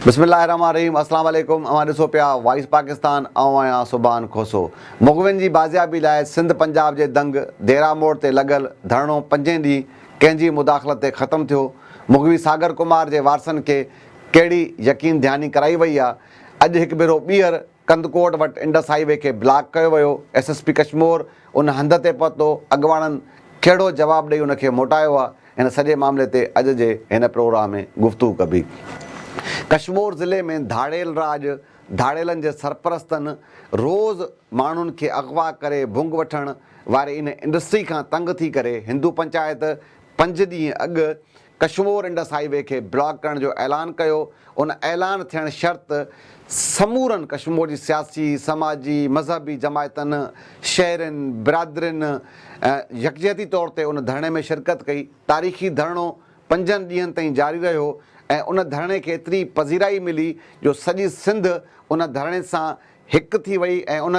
بسم الله الرحمن الرحيم اسلام عليڪم اوهان ڏسو پيا وائس پاڪستان آئون آهيان سبحان کوسو مغوين جي بازيابي لاء سنڌ پنجاب جي دنگ ديرا موڙ تي لڳل ڌرڻو پنجين ڏينهن ڪنهن جي مداخلت تي ختم ٿيو مغوي ساگر ڪمار جي وارثن کي ڪهڙي يقين ڌياني ڪرائي وئي آ اڄ هڪ ڀيرو ٻيهر ڪنڌڪوٽ وٽ انڊس هائي وي کي بلاڪ ڪيو ويو، ايس ايس پي ڪشمور ان هنڌ تي پهتو، اڳواڻن ڪهڙو جواب ڏئي ان کي موٽايو آهي ان سڄي معاملي تي اڄ جي هن پروگرام ۾ گفتگو ڪبي. ڪشمور ضلعي ۾ ڌاڙيل راڄ ڌاڙيلن جي سرپرستن روز ماڻهن کي اغوا ڪري ڀونگ وٺڻ واري ان انڊسٽري کان تنگ ٿي ڪري هندو پنچائت پنج ڏينهن اڳ ڪشمور انڊس هاء وي کي بلاڪ ڪرڻ جو اعلان ڪيو، ان اعلان ٿيڻ شرط سمورن ڪشمور جي سياسي، سماجي، مذهبي جماعتن، شهرين، برادرين يڪجهتي طور تي ان ڌرڻي ۾ شرڪت ڪئي، تاريخي ڌرڻو پنجن ڏينهن تائين جاري رهيو ۽ ان ڌرڻي کي ايتري پذيرائي ملي جو سڄي سنڌ ان ڌرڻي سان هڪ ٿي وئي ۽ ان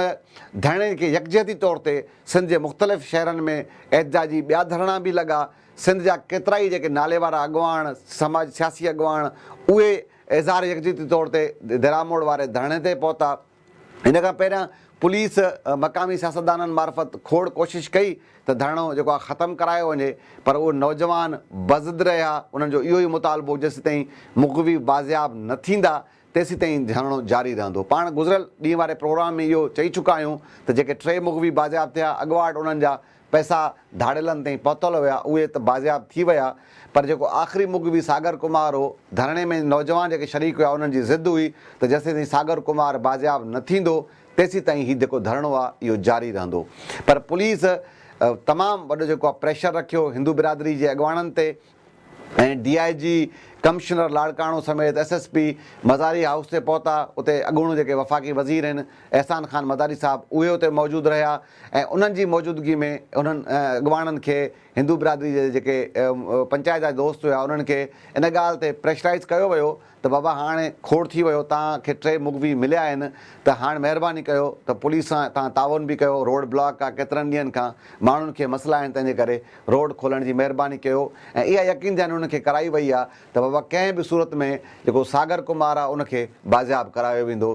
ڌرڻي کي يڪجهتي طور تي سنڌ جي مختلف شهرن ۾ احتجاجي ٻيا ڌرڻا به لڳا سنڌ جا ڪيترائي جيڪي ناليوارا اڳواڻ، سماج سياسي اڳواڻ اهي اظهار يڪجهتي طور تي ديراموڙ واري ڌرڻي تي پهتا. ان کان پهريان پوليس مقامي سياستدانن معرفت کوڙ ڪوشش ڪئي ته ڌرڻو جيڪو آهي ختم ڪرايو وڃي پر اهي نوجوان بضد رهيا انهن جو اهو ئي مطالبو هو جيسيتائين مغوي بازياب نه ٿيندا تيسيتائين جهرڻو جاري رهندو. پاڻ گذريل ڏينهن واري پروگرام ۾ اهو چئي چڪا آهيون ته جيڪي ٽي مغوي بازياب ٿيا اڳواٽ انهن جا پئسا ڌاڙيلن تائين پهتل هيا اهي ته بازياب ٿي ويا پر جيڪو آخري مغوي ساگر ڪمار هو ڌرڻي ۾ نوجوان جيڪي شريڪ هيا انهن جي ضد هئي ته جيسيتائين ساگر ڪمار بازياب نه ٿيندو تيسيتائين هي جيڪو ڌرڻو آ اهو جاري رهندو پر پوليس تمام وڏو جيڪو آ پريشر رکيو هندو برادري جي اڳواڻن تي ۽ D I G, commissioner Larkana سميت S S P Mazari house تي پهتا، اتي اڳوڻو جيڪي وفاقي وزير هن احسان خان مزاري صاحب اهي اتي موجود رهيا ۽ انهن جي موجودگي ۾ انهن اڳواڻن کي هندو برادري جي جيڪي پنچائت جا دوست هيا انهن کي ان ڳالهه تي پريشرائيز ڪيو ويو ته بابا هاڻ کوڙ ٿي ويو توهان کي ٽي مغوي مليا آهن ته هاڻ مهرباني ڪيو ته پوليس سان توهان تعاون به ڪيو روڊ بلاڪ آ ڪيترن ڏينهن کان ماڻهن کي مسئلا آهن تنهن جي ڪري روڊ کولڻ جي مهرباني ڪيو ۽ اها يقين ڌياني انهن کي ڪرائي وئي آ ته بابا ڪنهن به صورت ۾ جيڪو ساگر ڪمار آ ان کي بازياب ڪرايو ويندو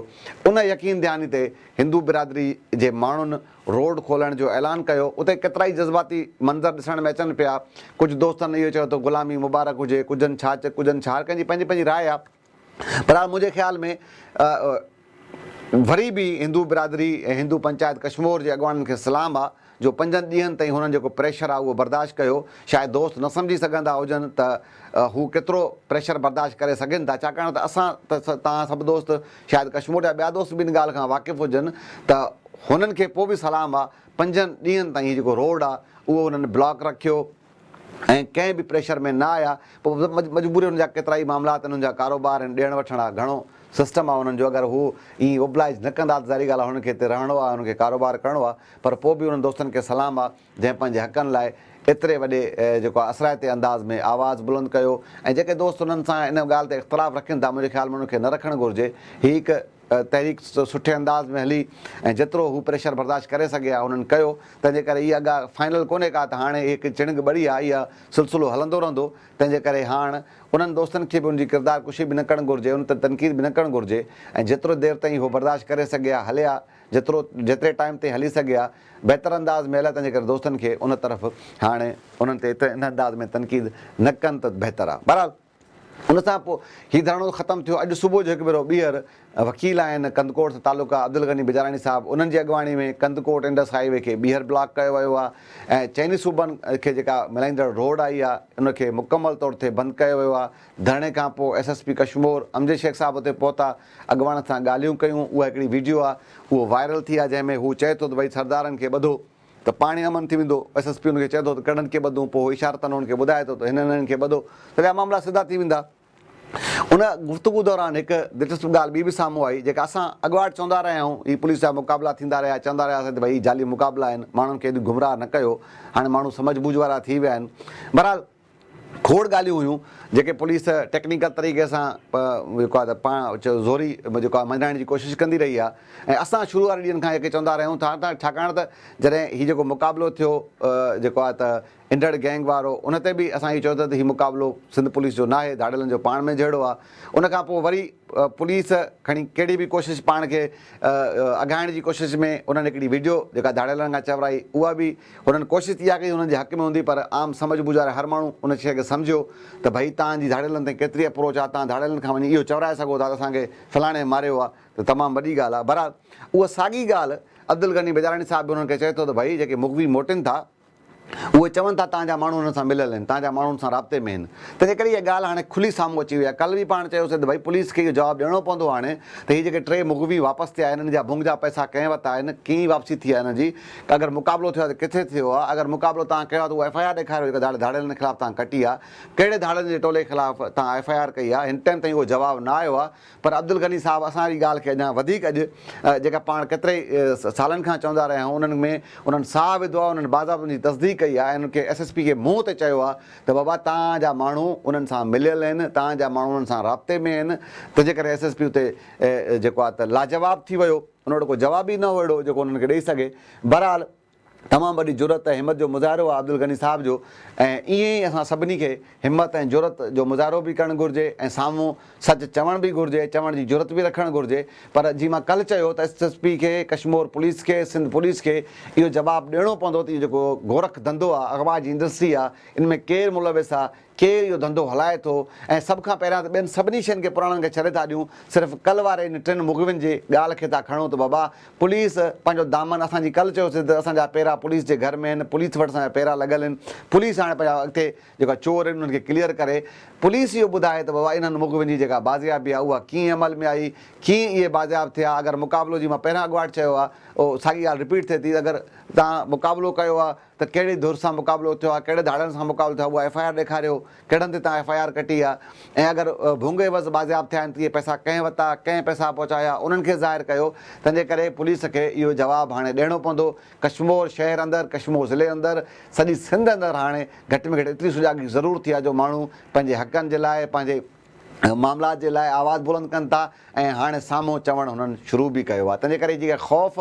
ان يقين ڌياني تي هندو برادري جي ماڻهن روڊ کولڻ جو اعلان ڪيو اتي ڪيترائي جذباتي منظر ڏسڻ ۾ اچن پيا ڪجهه دوستن اهو چيو ته غلامي مبارڪ هجي ڪجهن ڇا چه ڪجهن ڇا هر ڪنهن جي پنهنجي پنهنجي راء آهي بهرحال منهنجي خيال ۾ وري به هندو برادري ۽ هندو پنچائت ڪشمور جي اڳواڻن کي سلام آهي جو پنجن ڏينهن تائين هنن جيڪو پريشر آهي اهو برداشت ڪيو شايد دوست نه سمجهي سگهندا هجن ته هو ڪيترو پريشر برداشت ڪري سگهن ٿا ڇاڪاڻ ته اسان ته توهان سڀ دوست شايد ڪشمور جا ٻيا دوست به ان ڳالهه کان واقف هجن ته هنن کي پوء به سلام آ پنجن ڏينهن تائين هي جيڪو روڊ آ اهو انهن بلاڪ رکيو ۽ ڪنهن به پريشر ۾ نه آيا پوء مجبوري هنن جا ڪيترائي معاملات آهن هنن جا ڪاروبار آهن ڏيڻ وٺڻ آ گهڻو سسٽم آ انهن جو اگر هو ائين اوبلائج نه ڪندا ته ظاهري ڳالهه آ هنن کي هتي رهڻو آ هنن کي ڪاروبار ڪرڻو آ پر پوء به انهن دوستن کي سلام آ جنهن پنهنجي حقن لاء ايتري وڏي جيڪو آهي اثرائتي انداز ۾ آواز بلند ڪيو ۽ جيڪي دوست انهن سان ان ڳالهه تي اختلاف رکن ٿا منهنجي خيال ۾ انهن کي نه رکڻ گهرجي هي هڪ تحريڪ سٺي انداز ۾ هلي ۽ جيترو هو پريشر برداشت ڪري سگهي ها انهن ڪيو تنهن جي ڪري هي اڳا فائنل ڪونهي ڪا ته هاڻي هي هڪ چڻگ ٻڙي آهي اها سلسلو هلندو رهندو تنهن جي ڪري هاڻ انهن دوستن کي به ان جي ڪردار ڪشي به نه ڪرڻ گهرجي ان تي تنقيد به نه ڪرڻ گهرجي ۽ جيترو دير تائين هو برداشت ڪري سگهي ها هلي ها جيترو جيتري ٽائيم تائين هلي سگهي ها بهتر انداز ۾ هلائي تنهنجي ڪري دوستن کي ان طرف هاڻ انهن تي ايتري ان انداز ۾ تنقيد نه ڪن ته بهتر آهي بهرحال ان سان پوء هي ڌرڻو ختم ٿيو اڄ صبح جو هڪ ڀيرو ٻيهر وڪيل آهن ڪنڌڪوٽ سان تعلقه عبدالغني بجاراڻي صاحب انهن جي اڳواڻي ۾ ڪنڌڪوٽ انڊس هاء وي کي ٻيهر بلاڪ ڪيو ويو آهي ۽ چئني صوبن کي جيڪا ملائيندڙ روڊ آئي آهي ان کي مڪمل طور تي بند ڪيو ويو آهي ڌرڻي کان پوء S S P Kashmore Amjad Shaikh صاحب اتي پهتا اڳواڻ سان ڳالهيون ڪيون اها هڪڙي ويڊيو آهي اهو وائرل ٿي آهي جنهن ۾ هو چئي ٿو ته ڀئي سردارن کي ٻڌو ته پاڻهي امن ٿي ويندو ايس ايس پي هن کي چئي ٿو ته ڪهڙن کي ٻڌون پوء هو اشارتن هن کي ٻڌائي ٿو ته هنن هنن کي ٻڌو ته ٻيا معاملا سڌا ٿي ويندا. ان گفتگو دوران هڪ دلچسپ ڳالهه ٻي به سامهون آئي جيڪا اسان اڳواٽ چوندا رهيا آهيون هي پوليس جا مقابلا ٿيندا رهيا چوندا رهياسين ته ڀئي هي جعلي مقابلا آهن ماڻهن کي ايڏيون گمراهه نه ڪيو هاڻي ماڻهو سمجهه ٻوجهه وارا ٿي ويا آهن بهرحال کوڙ ڳالهيون هيون جيڪي پوليس ٽيڪنيڪل طريقي سان جيڪو آهي ته پاڻ زوري جيڪو آهي مڃرائڻ جي ڪوشش ڪندي رهي آهي ۽ اسان شروع واري ڏينهن کان اهي چوندا رهيون ٿا ته ڇاڪاڻ ته جڏهن هي جيڪو مقابلو ٿيو جيڪو آهي ته انڊڙ گينگ وارو ان تي به اسان اهو چيو ته هي مقابلو سنڌ پوليس جو ناهي ڌاڙيلن جو پاڻ ۾ جهيڙو آهي ان کان پوء وري پوليس کڻي ڪهڙي به ڪوشش پاڻ کي اگهائڻ جي ڪوشش ۾ انهن هڪڙي وڊيو جيڪا ڌاڙيلن کان چورائي اها به هنن ڪوشش اها ڪئي هنن جي حق ۾ هوندي پر عام سمجهه ٻوجهه واري هر ماڻهو ان شيء کي سمجهيو ته ڀئي تان جي ڌاڙيلن تائين ڪيتري اپروچ آهي تان ڌاڙيلن کان وڃي اهو چورائي سگهو ٿا ته اسان کي فلاڻي ماريو آهي ته تمام وڏي ڳالهه آهي بهرحال اها ساڳي ڳالهه عبدالغني بيداراڻي صاحب به هنن کي چئي ٿو ته ڀئي جيڪي مغوي موٽين ٿا اهي چون ٿا تان جا ماڻهو هنن سان مليل آهن تان جا ماڻهو هنن سان رابطي ۾ آهن تنهنجي ڪري اها ڳالهه هاڻي کلي سامهون اچي وئي آهي ڪلهه به پاڻ چيوسين ته ڀئي پوليس کي اهو جواب ڏيڻو پوندو هاڻي ته هي جيڪي ٽي مغوي واپس ٿيا آهن هنن جا ڀونگ جا پئسا ڪنهن وتان آهن ڪيئن واپسي ٿي آهي هنن جي ته اگر مقابلو ٿيو آهي ته ڪٿي ٿيو آهي؟ اگر مقابلو توهان ڪيو آهي ته اهو ايف آء آر ڏيکاريو جيڪا ڌاڙي ڌاڙيلن خلاف توهان ڪٽي آهي. ڪهڙي ڌاڙيلن جي ٽولي خلاف توهان ايف آء آر ڪئي آهي؟ هن ٽئم تائين اهو جواب نه آيو آهي پر عبدالغني صاحب اسان جي ڳالهه کي اڃا وڌيڪ اڄ جيڪا پاڻ ڪيترائي سالن کان چوندا رهيا آهيون انهن ۾ انهن ساهه وڌو آهي انهن باضابطه ان جي تصديق ڪئي آهي ۽ انهن کي ايس ايس پي کي منهن تي چيو آهي ته بابا توهان جا ماڻهو انهن سان مليل آهن توهان جا ماڻهو انهن سان رابطي ۾ آهن تنهنجي ڪري ايس ايس پي اتي جيڪو آهي ته لاجواب ٿي ويو. ان وٽ ڪو جواب ئي نه هو اهڙو جيڪو انهن کي ڏئي سگهي. بهرحال تمام وڏي جرئت ۽ همت جو مظاهرو آهي عبدالغني صاحب جو ۽ ائين ئي اسان سڀني کي همت ۽ جرئت جو مظاهرو به ڪرڻ گهرجي ۽ سامهون سچ چوڻ به گهرجي، چوڻ جي جرئت به رکڻ گهرجي پر جيئن مان ڪلهه چيو ته ايس ايس پي کي، ڪشمور پوليس کي، سنڌ پوليس کي اهو جواب ڏيڻو پوندو ته اهو جيڪو گورک ڌنڌو آهي، اغوا جي انڊسٽري آهي، ان ۾ ڪير ملوث آهي، ڪير اهو ڌنڌو هلائي ٿو ۽ سڀ کان پهريان ته ٻين سڀني شين کي پراڻن کي ڇڏي ٿا ڏيون صرف ڪل واري ان ٽن مغوين جي ڳالهه کي ٿا کڻون ته بابا پوليس پنهنجو دامن اسان جي ڪل چيوسي ته اسان جا پيرا پوليس جي گهر ۾ آهن پوليس وٽ اسان جا پيرا لڳل آهن پوليس هاڻي پنهنجا اڳتي جيڪا چور آهن انهن کي ڪليئر ڪري پوليس اهو ٻڌائي ته بابا انهن مغوين جي جيڪا بازيابي آهي اها ڪيئن عمل ۾ آئي ڪيئن اهي بازياب ٿيا اگر مقابلو جي مان پهريان اڳواٽ چيو آهي اهو ساڳي ڳالهه رپيٽ ٿئي ٿي اگر تان مقابلو ڪيو آهي ته ڪهڙي ڌر سان مقابلو ٿيو آهي، ڪهڙي ڌاڙن سان مقابلو ٿيو آهي، اها ايف آء آر ڏيکاريو، ڪهڙن تي توهان ايف آء آر ڪٽي آهي ۽ اگر ڀونگ عيوض بازياب ٿيا آهن ته اهي پئسا ڪنهن وتا، ڪنهن پئسا پهچايا، انهن کي ظاهر ڪيو، تنهن جي ڪري پوليس کي اهو جواب هاڻي ڏيڻو پوندو، ڪشمور شهر اندر، ڪشمور ضلعي اندر، سڄي سنڌ اندر هاڻي گهٽ ۾ گهٽ ايتري سجاڳي ضرور ٿي آهي جو ماڻهو پنهنجي حقن جي لاء، پنهنجي معاملات جي لاء آواز بلند ڪن ٿا ۽ هاڻي سامهون چوڻ هنن شروع به ڪيو آهي، تنهن جي ڪري جيڪا خوف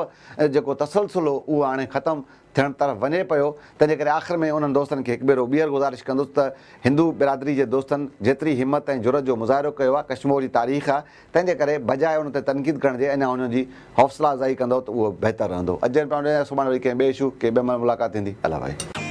جيڪو تسلسل هو اهو هاڻي ختم ٿيڻ طرف وڃي پيو، تنهنجي ڪري آخر ۾ انهن دوستن کي هڪ ڀيرو ٻيهر گذارش ڪندس ته هندو برادري جي دوستن جيتري همت ۽ جرئت جو مظاهرو ڪيو آهي ڪشمور جي تاريخ آهي تنهنجي ڪري بجاء ان تي تنقيد ڪرڻ جي اڃا انهن جي حوصلا افزائي ڪندؤ ته اهو بهتر رهندو اڄ جي لاء اهو سڀاڻي وري ڪنهن ٻئي اشو ڪنهن ٻئي مهل ملاقات ٿيندي الله حافظ.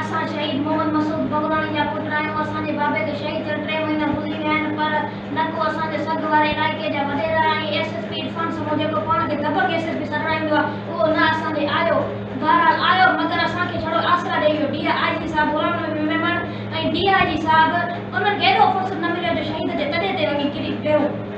اسان شهيد محمد مسعود بگراڻي جا پٽ آهيون، اسان جي بابي کي شهيد ٿيڻ ٽي مهينا گذري ويا آهن پر نه ڪو اسان جي سگهه واري علائقي جا وڏيرا ۽ S S P Irfan Samoon جيڪو پاڻ کي دٻڪ ايس ايس پي سڏرائيندو آهي اهو نه اسان ڏي آيو، بهرحال آيو مگر اسان کي ڇڙو آسرا ڏئي ويو، ڊي آء جي صاحب غلام نبي ميمڻ ۽ ڊي آء جي صاحب انهن کي ايڏو فرصت نه مليو جو شهيد جي تڏي تي وڃي ڪري ويهو.